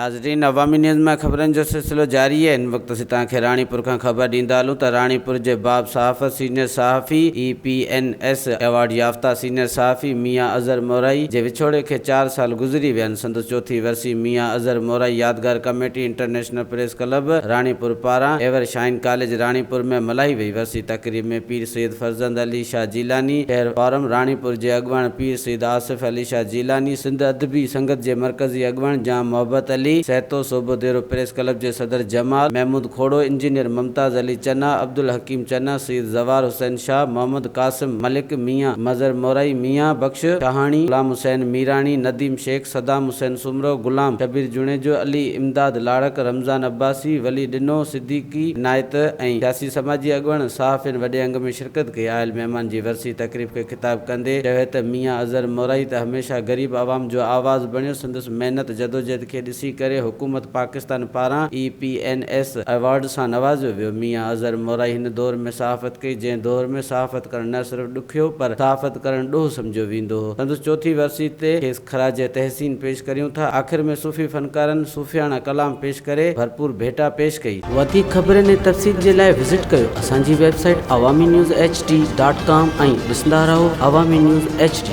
ناظرين عوامي نيوز مان خبرن جو سلسلو جاري آهي هن وقت اسين توهان کي راڻيپور کان خبر ڏيندا هلون ته راڻيپور جي باب صحافت سينيئر صحافي A P N S award يافته سينيئر صحافي ميان اظهر مورائي جي وڇوڙي کي چار سال گذري ويا آهن سندس چوٿين ورسي ميان اظهر مورائي يادگار committee international national press club Ranipur پاران ايور شائن ڪاليج راڻيپور ۾ ملهائي وئي ورسي تقريب ۾ پير سيد فرزند علي شاهه جيلاني، شهر فارم راڻيپور جي اڳواڻ پير سيد آصف علي شاهه جيلاني، سنڌ ادبي سنگت جي مرڪزي اڳواڻ جام محبت علي، سهتو صوبو ديرو پريس ڪلب جي صدر جمال محمود کوڙو، انجنيئر ممتاز علي چنا، عبدالحڪيم چنا، سيد زوار حسين شاهه، محمد قاسم ملڪ، ميان مظهر مورائي، ميان بخش شاهاڻي، غلام حسين ميراڻي، نديم شيخ، صدام حسين، سومرو، غلام شبير جوڻيجو، علي امداد لاڙڪ، رمضان عباسي، ولي ڏنو، صديقي عنايت ۽ سياسي سماجي اڳواڻن صحافين وڏي انگ ۾ شرڪت ڪئي آيل مهمان جي ورسي تقريب کي خطاب ڪندي چيو ته ميان اظهر مورائي ته هميشه غريب عوام جو آواز بڻيو سندس محنت جدوجهد کي ڏسي ڪري حڪومت پاڪستان پاران A P N S award سان نوازيو ويو ميان اظهر مورائي هن دور ۾ صحافت ڪئي جنهن دور ۾ صحافت ڪرڻ نه صرف ڏکيو پر صحافت ڪرڻ ڏوهه سمجهيو ويندو هو سندس چوٿين ورسي تي کيس خراج تحسين پيش ڪريون ٿا. آخر ۾ صوفي فنڪارن صوفياڻا ڪلام پيش ڪري ڀرپور ڀيٽا پيش ڪئي. وڌيڪ خبرن ۽ تفصيل جي لاء وزٽ ڪيو اسان جي website Awami news H D dot com ۽ ڏسندا رهو عوامي نيوز ايڇ ڊي.